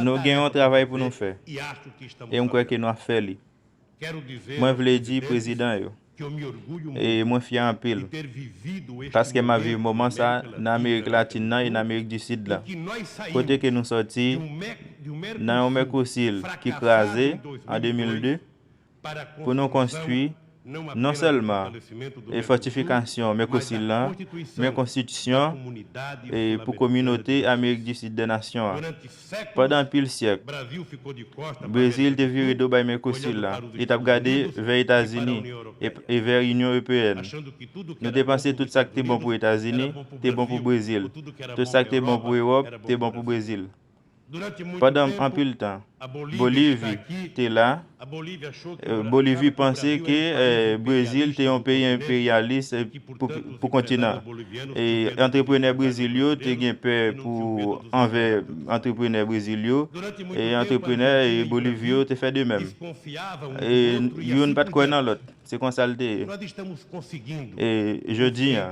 Nou gen yon travay pou nou fè, e m kwè ke nou ap fè li. Mwen vle di prezidan yo, e mwen fyè anpil, paske m ap viv moman sa nan Amerik Latin nan e nan Amerik di Sid la, kote ke nou sòti nan yon Mèkosil ki kraze an 2002, pou nou konstwi non sèlman e fòtifikasyon Mèkosil lan, men konstitisyon e pou Kominote Amerik di Sid dè Nasyon an. Pandan anpil syèk, Brezil te vire do bay Mèkosil lan, li t ap gade vè Etazini e e vè Inyon Ewpeèn. Nou te panse tout sa k te bon pou Etazini te bon pou Brezil, tout sa k te bon pou Ewòp te bon pou Brezil. Pandan anpil tan, Bolivi te la, Bolivi panse ke Brezil te yon peyi enperyalis pou kontinan an. Antreprenè Brezil yo te gen pè pou anvè antreprenè Brezil yo, e antreprenè Bolivi yo te fè de menm. Youn pa t kwè nan lòt, se konsa l te ye. Jodi a.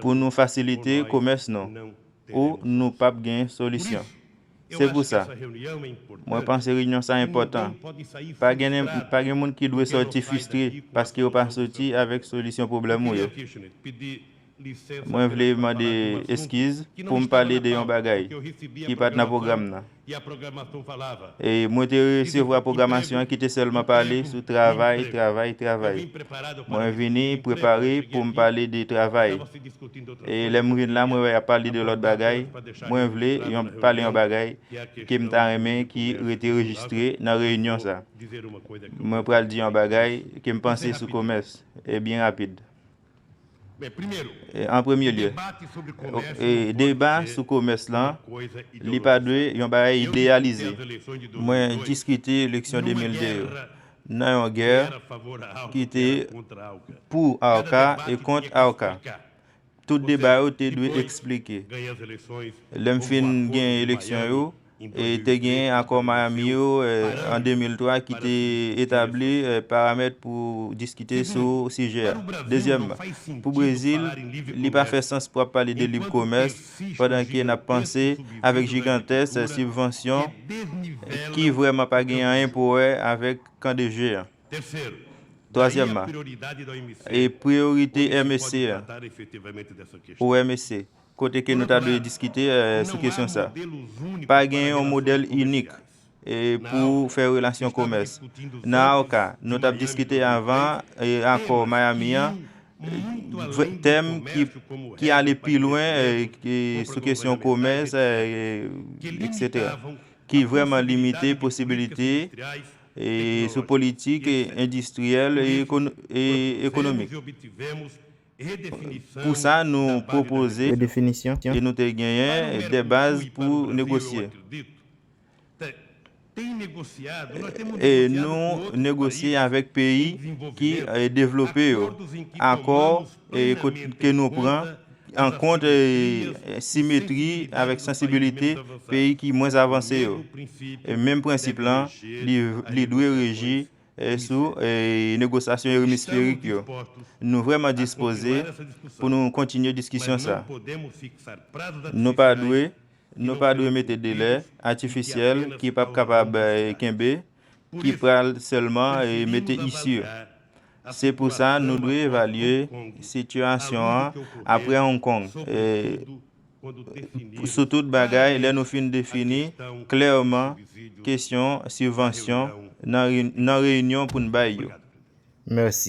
Pou nou fasilite komès nou ou nou pap gen solisyon. Se pou sa, mwen panse reyinyon sa enpòtan. Pa gen moun ki dwe sòti fistre paske yo pa soti avèk solisyon pwoblèm ou yo. Mwen vle mande eskiz pou m pale de yon bagay ki pat nan pwogram nan. Mwen te resevwa pwogramasyon an ki te sèlman pale sou travay, travay, travay. Mwen vini prepare pou m pale de travay. E lè m vin la, mwen wè y ap pale de lòt bagay. Mwen vle pale yon bagay ke m ta renmen ki rete rejistre nan reyinyon sa. Mwen pral di yon bagay ke m panse sou komès, e byen rapid. An premye lye, deba sou komès lan, li pa dwe yon bagay ideyalize. Mwen diskite leksyon 2002 yo nan yon gè ki te pou Arca e kont Arca. Tout deba yo te dwe eksplike. Lè m fin genyen eleksyon yo, e te genyen Akò Miami yo an 2003 ki te etabli paramèt pou diskite sou sijè a. Dezyèmman, pou Brezil, li pa fè sans pou ap pale de lib komès pandan ke n ap panse avèk jigantès sibvansyon ki vrèman pa gen anyen pou wè avèk kan de je an. Twazyèmman, e priyorite MSC a, pou MSC, Kote ke nou ta dwe diskite sou kesyon sa. Pa gen yon modèl inik pou fè relasyon komès. Nan AOKA, nou tap diskite avan akò Miami an, tèm ki ale pi lwen sou kesyon komès etc. Ki vrèman limite posibilite sou politik endistriyèl e ekonomik. Pou sa nou pwopoze redefinisyon e nou te genyen de baz pou negosye. E nou negosye avèk peyi ki devlope yo, akò ke nou pran an kont simetri avèk sansibilite peyi ki mwens avanse yo. Menm prensip lan li dwe reji sou negosyasyon yo emisferik yo. Nou vrèman dispoze pou nou kontinye diskisyon sa. Nou pa dwe, nou pa dwe mete delè atifisyèl ki pap kapab kenbe, ki pral sèlman mete isi. Se pou sa nou dwe evalye sitiyasyon an apre Hong Kong. Sou tout bagay, lè nou fin defini klèman kesyon sibvansyon nan reyinyon pou n bay yo. Mèsi.